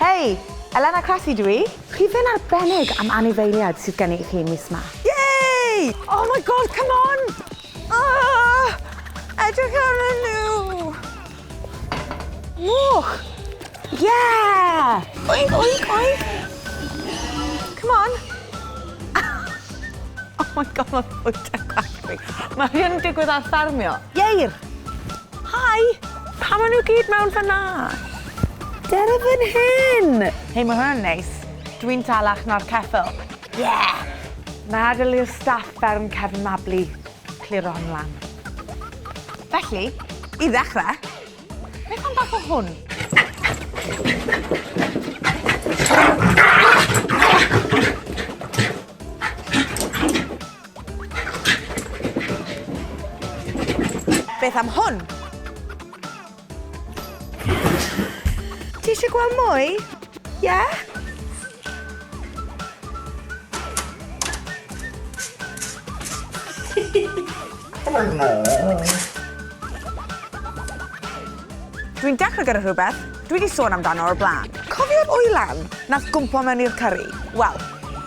Hei! Elena Cressy dw i. Rhif un arbennig am anifeiliaid sydd gen i chi mis 'ma. Yay! Oh my God, come on! Oh! Edrych arnyn nhw! Moch! Yeah! Oink, oink, oink! Come on! Oh my God, mae bwyta gwaith fi. Mae hyn yn digwydd ar ffermio. Ieir! Hi! Pam ma' nhw gyd mewn fan'na? Dere fan hyn! Hei, ma' hwnna'n neis. Dw i'n salach na'r ceffyl. Yeah! Meddwl i'r staff fferm cefn Mabli cliro hwn lan. Felly, i ddechrau, beth am bach o hwn? Beth am hwn? Ti eisiau gweld mwy? Ie? Yeah? oh no. Dwi'n dechrau gyda rhywbeth dwi 'di sôn amdano o'r blaen. Cofio'r oilan 'nath gwmpo mewn i'r cyrri? Wel,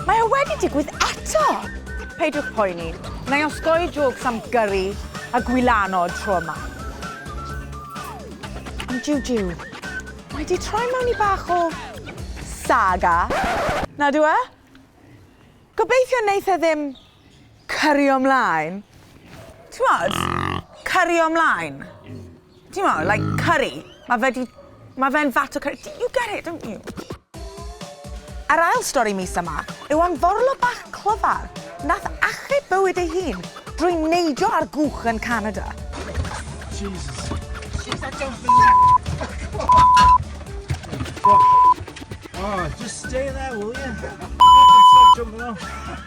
mae o wedi digwydd eto! Peidiwch poeni, na i osgoi jôcs am gyrri a gwylano tro yma. Ond jiw jiw, mae 'di troi mewn i bach o saga. Nad yw e? Gobeithio neith e ddim Cario 'mlaen. T'mod? Cario 'mlaen. T'mo' like curry. Ma' fe 'di... Ma' fe'n fat o curry. You get it don't you? Yr ail stori mis yma yw am forlo bach clyfar nath achub bywyd ei hun drwy neidio ar gwch yn Canada. Jesus. Shit I don't believe Oh, just stay there, will you? Stop jumping off.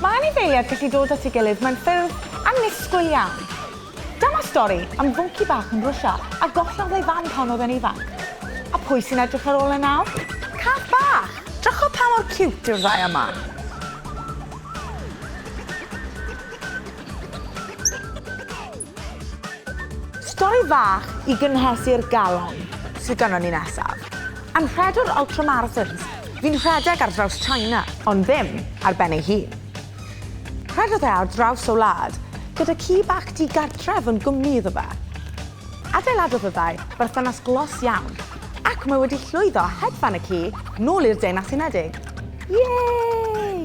Mae anifeiliaid gallu dod at ei gilydd mewn ffyrdd annisgwyl iawn. Dyma stori am fwnci bach yn Rwsia a gollodd ei fam pan oedd e'n ifanc. A pwy sy'n edrych ar ôl e nawr? Cath bach! Drychwch pa mor ciwt yw'r ddau yma. Stori fach i gynhesu'r galon sydd gynnon ni nesaf. Anrhedwr ultramarathons fu'n rhedeg ar draws China, ond ddim ar ben ei hun. Rhedodd e ar draws y wlad gyda ci bach digartref yn gwmni iddo fe. Adeiladodd y ddau berthynas glos iawn, ac mae wedi llwyddo hedfan y ci nôl i'r Deyrnas Unedig. Yay!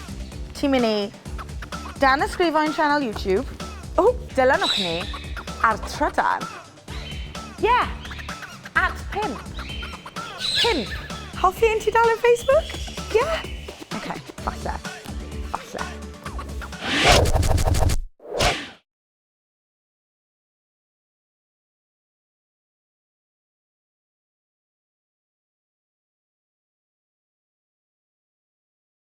Ti'n mynd i danysgrifo i'n sianel YouTube. Ww, dilynwch ni ar trydar. Ie! At pump. Pump. Hoffi ein tudalen Facebook? Ie? Oce, falle. Falle.